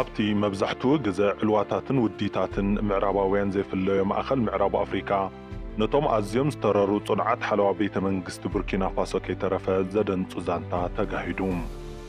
ኣብቲ መብዛሕትኡ ግዘ ዕልዋታትን ውዲታትን ምዕራባውያን ዘይፍለዮ ማእኸል ምዕራብ ኣፍሪካ፣ ነቶም ኣዝዮም ዝተረሩ ፅኑዓት ሓለዋ ቤተ መንግስቲ ቡርኪናፋሶ ከይተረፈ ዘደንፁ ዛንታ ተጋሂዱ።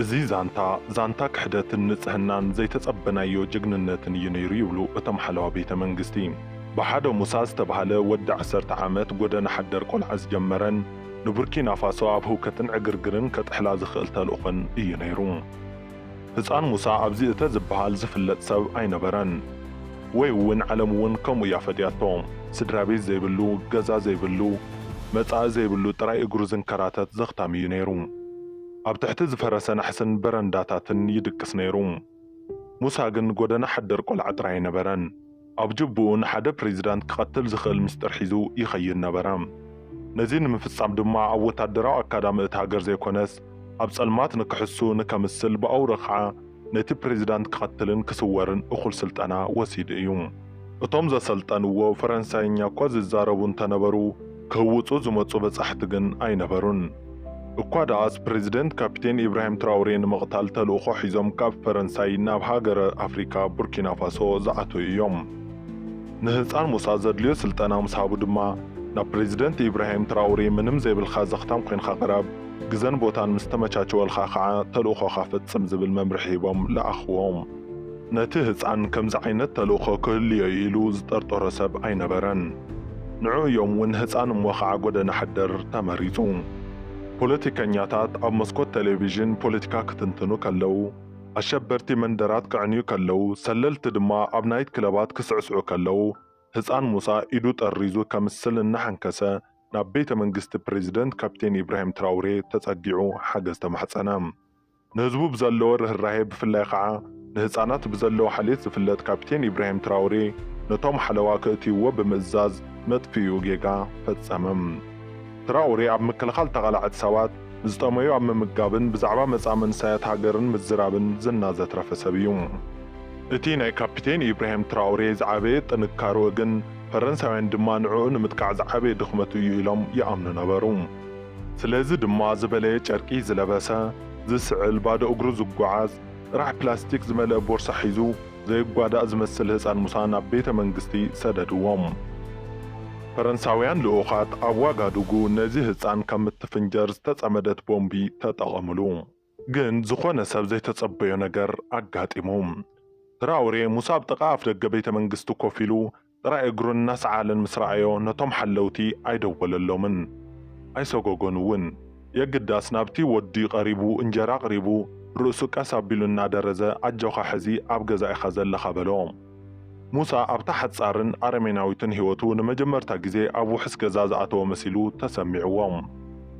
እዚ ዛንታ፣ ዛንታ ክሕደትን ንፅህናን ዘይተፀበናዮ ጅግንነትን እዩ ነይሩ ይብሉ እቶም ሓለዋ ቤተ መንግስቲ። ብሓደ ሙሳ ዝተብሃለ ወዲ ዓሰርተ ዓመት ጎደና ሓደር ቆልዓ ዝጀመረን፣ ንቡርኪናፋሶ ኣብ ህውከትን ዕግርግርን ከጥሕላ ዝኽእል ተልእኾን እዩ ነይሩ። ህጻን ሙሳ ኣብዚ እተ ዝበሃል ዝፍለጥ ሰብ ኣይነበረን። ወይ'ውን ዓለም'ውን ከምኡ እያ ፈጥያቶ። ስድራቤት ዘይብሉ፣ ገዛ ዘይብሉ፣ መጻኢ ዘይብሉ ጥራይ እግሩ ዝንከራተት ዘኽታም እዩ ነይሩ። ኣብ ትሕቲ ዝፈረሰ ናሕስን በረንዳታትን ይድቅስ ነይሩ። ሙሳ ግን ጎደና ሓደር ቆልዓ ጥራይ ኣይነበረን። ኣብ ጅብኡ ንሓደ ፕሬዚዳንት ክቐትል ዝኽእል ምስጢር ሒዙ ይኸይድ ነበረ። ነዚ ንምፍፃም ድማ ኣብ ወታደራዊ ኣካዳሚ እቲ ሃገር ዘይኮነስ ኣብ ፀልማት ንክሕሱ ንከምስል ብኣውርኡ ከዓ ነቲ ፕሬዚዳንት ክቐትልን ክስወርን እኹል ስልጠና ወሲዱ እዩ። እቶም ዘሰልጠንዎ ፈረንሳይኛ እኳ ዝዛረቡ እንተነበሩ፣ ክህውጹ ዝመጹ በጻሕቲ ግን ኣይነበሩን። እኳ ደኣስ ፕረዚደንት ካፒቴን ኢብራሂም ትራውሬ ንምቕታል ተልእኾ ሒዞም ካብ ፈረንሳይ ናብ ሃገረ ኣፍሪካ ቡርኪናፋሶ ዝኣተው እዮም። ንህጻን ሙሳ ዘድልዮ ስልጠና ምስ ሃቡ ድማ ናብ ፕረዚደንት ኢብራሂም ትራውሬ ምንም ዘይብልካ ዘኽታም ኮይንካ ቅረብ፣ ግዘን ቦታን ምስ ተመቻቸወልካ ከዓ ተልእኾኻ ፈጽም ዝብል መምርሒ ሂቦም ለኣኽዎም። ነቲ ህጻን ከምዚ ዓይነት ተልእኾ ክህሉዮ'ዩ ኢሉ ዝጠርጠሮ ሰብ ኣይነበረን። ንዑ እዮም እውን ህጻን እሞ ኸኣ ጎደና ሓደር ተመሪጹ። ፖለቲከኛታት ኣብ መስኮት ተሌቪዥን ፖለቲካ ክትንትኑ ከለዉ፣ ኣሸበርቲ መንደራት ከዕንዩ ከለዉ፣ ሰለልቲ ድማ ኣብ ናይት ክለባት ክስዕስዑ ከለዉ፣ ህጻን ሙሳ ኢዱ ጠሪዙ ከምስል እናሓንከሰ ናብ ቤተ መንግስቲ ፕረዚደንት ካፒቴን ኢብራሂም ትራውሬ ተጸጊዑ ሓገዝ ተማሕጸነ። ንህዝቡ ብዘለዎ ርህራሄ ብፍላይ ኸኣ ንህጻናት ብዘለዎ ሓልዮት ዝፍለጥ ካፒቴን ኢብራሂም ትራውሬ ነቶም ሓለዋ ክእትይዎ ብምእዛዝ መጥፍኢኡ ጌጋ ፈጸመ። ትራውሬ ኣብ ምክልኻል ተቓላዕቲ ሰባት፣ ንዝጠመዩ ኣብ ምምጋብን ብዛዕባ መጻኢ መንእሰያት ሃገርን ምዝራብን ዝና ዘትረፈ ሰብ እዩ። እቲ ናይ ካፒቴን ኢብራሂም ትራውሬ ዝዓበየ ጥንካርኡ ግን ፈረንሳውያን ድማ ንዕኡ ንምጥቃዕ ዝዓበየ ድኽመቱ እዩ ኢሎም ይኣምኑ ነበሩ። ስለዚ ድማ ዝበለየ ጨርቂ ዝለበሰ፣ ዝስዕል፣ ባዶ እግሩ ዝጓዓዝ፣ ጥራሕ ፕላስቲክ ዝመልአ ቦርሳ ሒዙ ዘይጓዳእ ዝመስል ህጻን ሙሳ ናብ ቤተ መንግስቲ ሰደድዎም። ፈረንሳውያን ልኡኻት ኣብ ዋጋዱጉ ነዚ ህጻን ከም እትፍንጀር ዝተጸመደት ቦምቢ ተጠቐምሉ። ግን ዝኾነ ሰብ ዘይተጸበዮ ነገር ኣጋጢሙ። ትራውሬ ሙሳ ኣብ ጥቓ ኣፍደገ ቤተ መንግስቲ ኮፍ ኢሉ ጥራይ እግሩ እናሰዓለን ምስ ረኣዮ ነቶም ሓለውቲ ኣይደወለሎምን። ኣይሰጎጎን'ውን። የግዳስ ናብቲ ወዲ ቀሪቡ እንጀራ ኣቕሪቡ ርእሱ ቀስ ኣቢሉ እናደረዘ ኣጆኻ ሕዚ ኣብ ገዛ ኢኻ ዘለኻ በሎ። ሙሳ ኣብታ ሓጻርን ኣረሜናዊትን ህይወቱ ንመጀመርታ ግዜ ኣብ ውሑስ ገዛ ዝኣተወ መሲሉ ተሰሚዕዎ።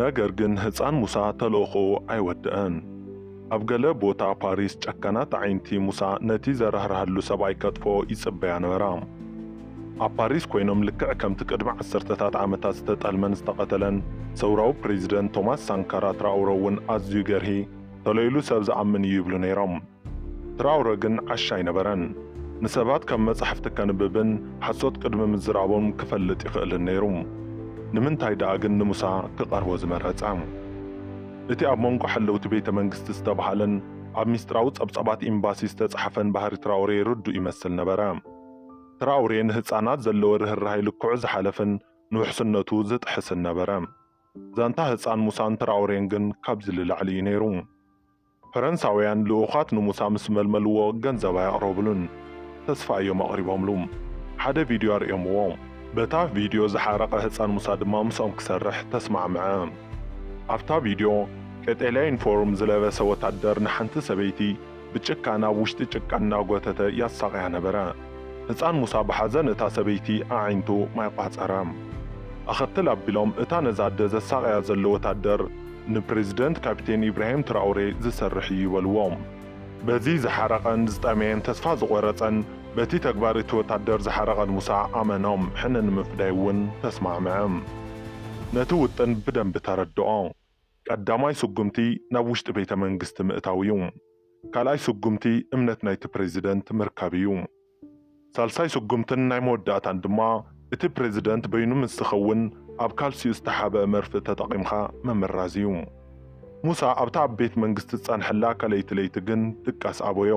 ነገር ግን ህጻን ሙሳ ተልእኾኡ ኣይወደኣን። ኣብ ገለ ቦታ ፓሪስ ጨካናት ኣዒንቲ ሙሳ ነቲ ዘራህርሃሉ ሰብኣይ ከጥፍኦ ይጽበያ ነበራ። ኣብ ፓሪስ ኮይኖም ልክዕ ከምቲ ቅድሚ ዓሰርተታት ዓመታት ዝተጠልመን ዝተቐተለን ሰውራዊ ፕረዚደንት ቶማስ ሳንካራ ትራኦረ እውን ኣዝዩ ገርሂ፣ ተለኢሉ ሰብ ዝኣምን እዩ ይብሉ ነይሮም። ትራውረ ግን ዓሻ ኣይነበረን። ንሰባት ካብ መጻሕፍቲ ከንብብን ሓሶት ቅድሚ ምዝራቦም ክፈልጥ ይኽእልን ነይሩ። ንምንታይ ደኣ ግን ንሙሳ ክቐርቦ ዝመረጸ? እቲ ኣብ መንጎ ሓለውቲ ቤተ መንግስቲ ዝተባህለን ኣብ ሚስጥራዊ ጸብጻባት ኤምባሲ ዝተጻሕፈን ባህሪ ትራውሬ ርዱእ ይመስል ነበረ። ትራውሬ ንህጻናት ዘለዎ ርህራሄ ልክዑ ዝሓለፍን ንውሕስነቱ ዝጥሕስን ነበረ። ዛንታ ህጻን ሙሳን ትራውሬን ግን ካብዚ ልላዕሊ እዩ ነይሩ። ፈረንሳውያን ልኡኻት ንሙሳ ምስ መልመልዎ ገንዘብ ኣየቕረብሉን። ተስፋ እዮም ኣቕሪቦምሉ። ሓደ ቪድዮ ኣርእዮምዎ። በታ ቪድዮ ዝሓረቐ ህጻን ሙሳ ድማ ምስኦም ክሰርሕ ተስማዕምዐ። ኣብታ ቪድዮ፣ ቀጠልያ ዩኒፎርም ዝለበሰ ወታደር ንሓንቲ ሰበይቲ ብጭካ ናብ ውሽጢ ጭቃ እናጎተተ ያሳቕያ ነበረ። ህጻን ሙሳ ብሓዘን እታ ሰበይቲ ኣዒንቱ ማይ ቋጸረ። ኣኸትል ኣቢሎም እታ ነዛ ኣደ ዘሳቕያ ዘሎ ወታደር፣ ንፕረዚደንት ካፒቴን ኢብራሂም ትራኦሬ ዝሰርሕ እዩ በልዎ። በዚ ዝሓረቐን ዝጠመየን ተስፋ ዝቖረጸን በቲ ተግባር እቲ ወታደር ዝሓረቐን ሙሳ ኣመኖም ሕነ ንምፍዳይ እውን ተስማዕምዐ። ነቲ ውጥን ብደንቢ ተረድኦ። ቀዳማይ ስጉምቲ ናብ ውሽጢ ቤተ መንግስቲ ምእታው እዩ። ካልኣይ ስጉምቲ እምነት ናይቲ ፕረዚደንት ምርካብ እዩ። ሳልሳይ ስጉምትን ናይ መወዳእታን ድማ እቲ ፕረዚደንት በይኑ ምስ ዝኸውን ኣብ ካልሲኡ ዝተሓብኣ መርፍእ ተጠቒምካ ምምራዝ እዩ። ሙሳ ኣብታ ኣብ ቤት መንግስቲ ዝጸንሐላ ካልኣይቲ ለይቲ ግን ድቃስ ኣበዮ።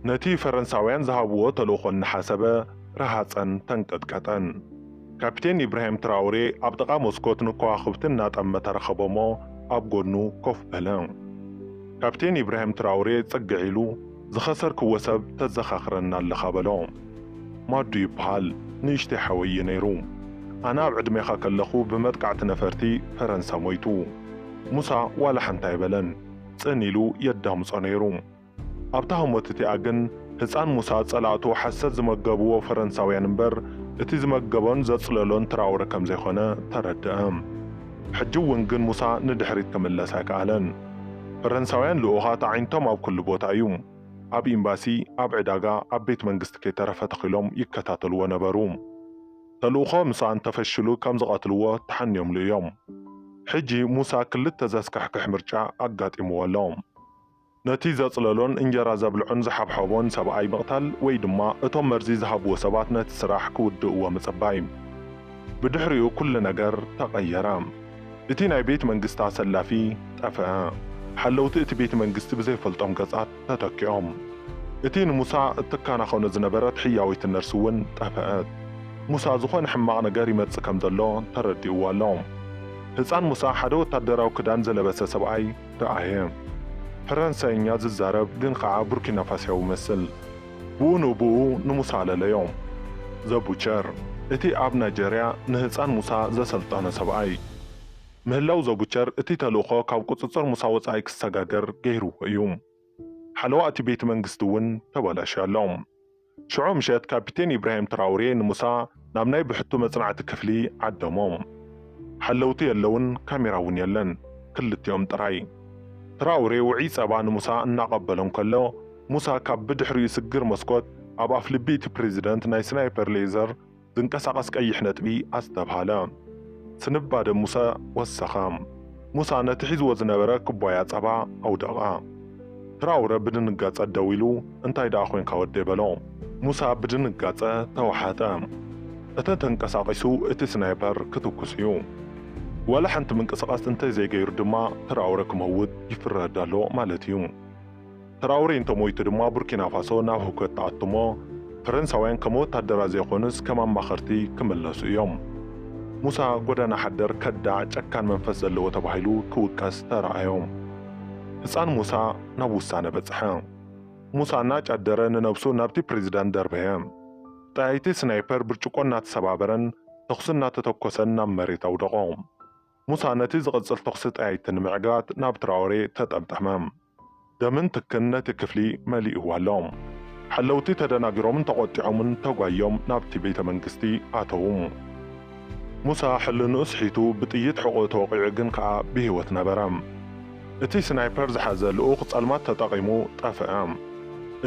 ነቲ ፈረንሳውያን ዝሃብዎ ተልእኾ እናሓሰበ ረሃጸን ተንቀጥቀጠን። ካፒቴን ኢብራሂም ትራውሬ ኣብ ጥቓ መስኮት ንከዋኽብቲ እናጠመተ ረኸቦ'ሞ ኣብ ጎድኑ ኮፍ በለ። ካፒቴን ኢብራሂም ትራውሬ ጽግዕ ኢሉ፣ ዝኸሰርክዎ ሰብ ተዘኻኽረኒ ኣለኻ በሎ። ማዱ ይብሃል፣ ንእሽተይ ሓወይ እዩ ነይሩ። ኣነ ኣብ ዕድሜኻ ከለኹ ብመጥቃዕቲ ነፈርቲ ፈረንሳ ሞይቱ። ሙሳ ዋላ ሓንቲ ኣይበለን። ጽን ኢሉ የዳምጾ ነይሩ። ኣብታ ህሞት እቲኣ ግን ህጻን ሙሳ ጸላእቱ ሓሰት ዝመገብዎ ፈረንሳውያን እምበር እቲ ዝመገቦን ዘጽለሎን ትራወረ ከምዘይኮነ ተረድኣ። ሕጂ እውን ግን ሙሳ ንድሕሪት ክምለስ ኣይከኣለን። ፈረንሳውያን ልኡኻት ኣዒንቶም ኣብ ኩሉ ቦታ እዩ። ኣብ ኤምባሲ፣ ኣብ ዕዳጋ፣ ኣብ ቤት መንግስቲ ከይተረፈ ተኺሎም ይከታተልዎ ነበሩ። ተልእኾ ምሳ እንተፈሽሉ ከም ዝቐትልዎ ተሓንዮምሉ እዮም። ሕጂ ሙሳ ክልተ ዘስካሕክሕ ምርጫ ኣጋጢምዎ ኣሎ። ነቲ ዘጽለሎን እንጀራ ዘብልዖን ዝሓብሓቦን ሰብኣይ ምቕታል ወይ ድማ እቶም መርዚ ዝሃብዎ ሰባት ነቲ ስራሕ ክውድእዎ ምጽባይ። ብድሕሪኡ ኩሉ ነገር ተቐየረ። እቲ ናይ ቤት መንግስቲ ኣሰላፊ ጠፍኣ። ሓለውቲ እቲ ቤት መንግስቲ ብዘይፈልጦም ገጻት ተተኪኦም። እቲ ንሙሳ እትከናኸኖ ዝነበረት ሕያወይቲ ነርስ እውን ጠፍኣት። ሙሳ ዝኾነ ሕማቕ ነገር ይመጽእ ከም ዘሎ ተረዲእዎ ኣሎ። ህጻን ሙሳ ሓደ ወታደራዊ ክዳን ዝለበሰ ሰብኣይ ረኣየ። ፈረንሳይኛ ዝዛረብ ግን ኸኣ ቡርኪናፋሲያዊ መስል። ብኡ ንብኡ ንሙሳ ኣለለዮ። The Butcher፣ እቲ ኣብ ናይጀርያ ንህጻን ሙሳ ዘሰልጠነ ሰብኣይ። ምህላው The Butcher እቲ ተልእኾ ካብ ቁጽጽር ሙሳ ወጻኢ ክሰጋገር ገይርዎ እዩ። ሓለዋ እቲ ቤትመንግስቲ እውን ተበላሽዩ ኣሎ። ሽዑ ምሸት ካፒቴን ኢብራሂም ትራውሬ ንሙሳ ናብ ናይ ብሕቱ መጽናዕቲ ክፍሊ ዓደሞ። ሓለውቲ የለውን ካሜራ እውን የለን። ክልቲኦም ጥራይ። ትራውሬ ውዑይ ጸባ ንሙሳ እናቐበሎ እንከሎ ሙሳ ካብ ብድሕሪኡ ስግር መስኮት ኣብ ኣፍልቢ'ቲ ፕረዚደንት ናይ ስናይፐር ሌዘር ዝንቀሳቐስ ቀይሕ ነጥቢ ኣስተብሃለ። ስንባደ ሙሰ ወሰኸ። ሙሳ ነቲ ሒዝዎ ዝነበረ ኩባያ ጸባ ኣውደቐ። ትራውረ ብድንጋጸ ደው ኢሉ፣ እንታይ ደኣ ኮንካ ወደይ? በሎ። ሙሳ ብድንጋጸ ተዋሕጠ። እተ ተንቀሳቒሱ እቲ ስናይፐር ክትኩስ እዩ። ዋላ ሓንቲ ምንቅስቓስ እንተዘይገይሩ ድማ ትራውረ ክመውት ይፍረድ ኣሎ ማለት እዩ። ትራውሬ እንተሞይቱ ድማ ቡርኪናፋሶ ናብ ህውከት ትኣቱ'ሞ ፈረንሳውያን ከም ወታደራት ዘይኮኑስ ከም ኣማኸርቲ ክምለሱ እዮም። ሙሳ ጎዳና ሓደር ከዳዕ ጨካን መንፈስ ዘለዎ ተባሂሉ ክውቀስ ተራኣዮ። ህጻን ሙሳ ናብ ውሳነ በጽሐ። ሙሳ እናጫደረ ንነብሱ ናብቲ ፕሬዚዳንት ደርበየ። ጠያይቲ ስናይፐር ብርጭቆ እናተሰባበረን ተኹሲ እናተተኮሰን ናብ መሬት ኣውደቖ። ሙሳ ነቲ ዝቕጽል ተኹሲ ጠያይቲ ንምዕግራት ናብ ትራኦሬ ተጠምጠመ። ደምን ትክን ነቲ ክፍሊ መሊእዎ ኣሎ። ሓለውቲ ተደናጊሮምን ተቖጢዖምን ተጓይዮም ናብቲ ቤተ መንግስቲ ኣተዉ። ሙሳ ሕልንኡ ስሒቱ ብጥይት ሕቖኡ ተወቒዑ ግን ከኣ ብህይወት ነበረ። እቲ ስናይፐር ዝሓዘ ልኡኽ ጸልማት ተጠቒሙ ጠፍኣ።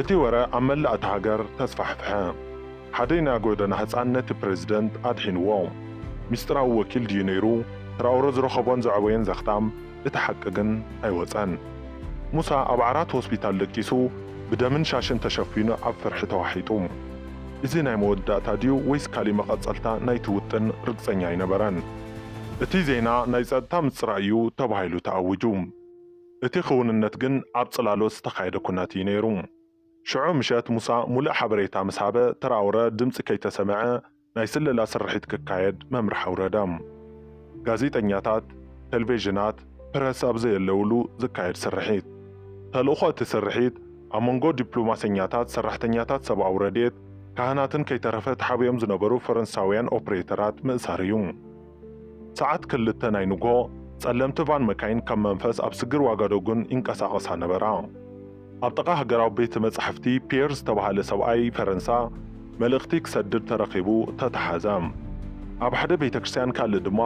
እቲ ወረ ኣብ መላእ እታ ሃገር ተስፋሕፍሐ። ሓደ ናይ ጎደና ህጻን ነቲ ፕረዚደንት ኣድሒንዎ። ሚስጢራዊ ወኪል ድዩ ነይሩ ትራኦረ ዝረኸቦን ዘዕበዮን ዘኽታ? እቲ ሓቂ ግን ኣይወጸን። ሙሳ ኣብ ዓራት ሆስፒታል ደቂሱ፣ ብደምን ሻሽን ተሸፊኑ ኣብ ፍርሒ ተዋሒጡ። እዚ ናይ መወዳእታ ድዩ ወይስ ካልእ መቐጸልታ ናይቲ ውጥን ርግጸኛ ኣይነበረን። እቲ ዜና ናይ ጸጥታ ምጽራይ እዩ ተባሂሉ ተኣዊጁ። እቲ ክውንነት ግን ኣብ ጽላሎት ዝተኻየደ ኩናት እዩ ነይሩ። ሽዑ ምሸት ሙሳ ሙሉእ ሓበሬታ ምስ ሃበ ትራውረ ድምጺ ከይተሰምዐ ናይ ስለላ ስርሒት ክካየድ መምርሒ ኣውረደ። ጋዜጠኛታት፣ ተልቬዥናት፣ ፕረስ ኣብ ዘየለውሉ ዝካየድ ስርሒት። ተልእኾ እቲ ስርሒት ኣብ መንጎ ዲፕሎማሰኛታት፣ ሰራሕተኛታት ሰብኣዊ ረድኤት፣ ካህናትን ከይተረፈ ተሓቢኦም ዝነበሩ ፈረንሳውያን ኦፕሬተራት ምእሳር እዩ። ሰዓት ክልተ ናይ ንግሆ፣ ጸለምቲ ቫን መካይን ከም መንፈስ ኣብ ስግር ዋጋዶግን ይንቀሳቐሳ ነበራ። ኣብ ጥቓ ሃገራዊ ቤተ መጻሕፍቲ ፒየር ዝተባህለ ሰብኣይ ፈረንሳ መልእኽቲ ክሰድድ ተረኺቡ ተታሓዘ። ኣብ ሓደ ቤተ ክርስትያን ካልእ ድማ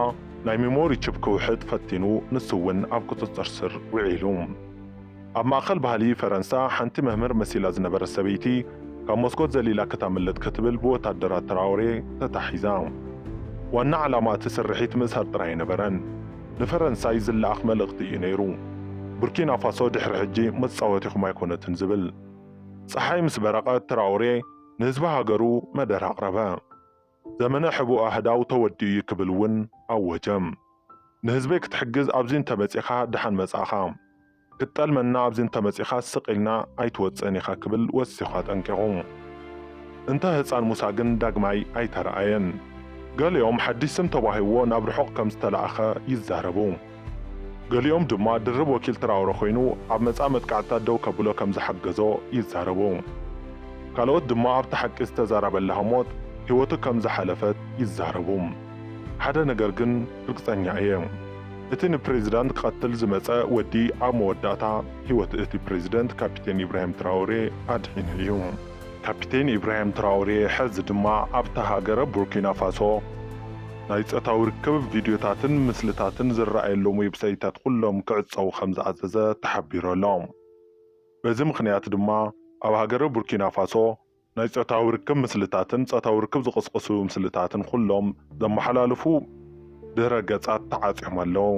ናይ ሚሞሪ ቺፕ ክውሕጥ ፈቲኑ ንሱ እውን ኣብ ቁጽጽር ስር ውዒሉ። ኣብ ማእከል ባህሊ ፈረንሳ ሓንቲ መምህር መሲላ ዝነበረት ሰበይቲ ካብ መስኮት ዘሊላ ክታምልጥ ክትብል ብወታደራት ትራኦሬ ተታሒዛ። ዋና ዓላማ እቲ ስርሒት ምእሳር ጥራይ ኣይነበረን፣ ንፈረንሳይ ዝለኣኽ መልእኽቲ እዩ ነይሩ፣ ቡርኪናፋሶ ድሕሪ ሕጂ መጻወቲኹም ኣይኮነትን ዝብል። ጸሓይ ምስ በረቐት ትራኦሬ ንህዝቢ ሃገሩ መደረ ኣቕረበ። ዘመነ ሕቡእ ኣህዳው ተወዲኡ እዩ ክብል እውን ኣወጀ። ንህዝበይ ክትሕግዝ ኣብዚ እንተመጺኻ ደሓን መጻእኻ፣ ክትጠልመና ኣብዚ እንተመጺኻ ስቕ ኢልና ኣይትወጽእን ኢኻ ክብል ወሲኹ ኣጠንቂቑ። እንተ ህጻን ሙሳ ግን ዳግማይ ኣይተራኣየን። ገሊኦም ሓድሽ ስም ተዋሂብዎ ናብ ርሑቕ ከም ዝተላእከ ይዛረቡ። ገሊኦም ድማ ድርብ ወኪል ትራውረ ኮይኑ ኣብ መጻኢ መጥቃዕትታት ደው ከብሎ ከም ዝሓገዞ ይዛረቡ። ካልኦት ድማ ኣብቲ ሓቂ ዝተዛረበላ ህሞት ህይወቱ ከም ዝሓለፈት ይዛረቡ። ሓደ ነገር ግን ርግጸኛ እየ፣ እቲ ንፕሬዚዳንት ክቐትል ዝመጸ ወዲ ኣብ መወዳእታ ህይወት እቲ ፕሬዚደንት ካፒቴን ኢብራሂም ትራውሬ ኣድሒኑ እዩ። ካፒቴን ኢብራሂም ትራውሬ ሕዚ ድማ ኣብታ ሃገረ ቡርኪናፋሶ፣ ናይ ጾታዊ ርክብ ቪድዮታትን ምስልታትን ዝረኣየሎም ዌብሳይታት ኹሎም ክዕጸዉ ከምዝኣዘዘ ተሓቢሩ ኣሎ። በዚ ምኽንያት ድማ ኣብ ሃገረ ቡርኪናፋሶ ናይ ጾታዊ ርክብ ምስልታትን ጾታዊ ርክብ ዝቕስቕሱ ምስልታትን ኹሎም ዘመሓላልፉ ድህረ ገጻት ተዓጽዮም ኣለዉ።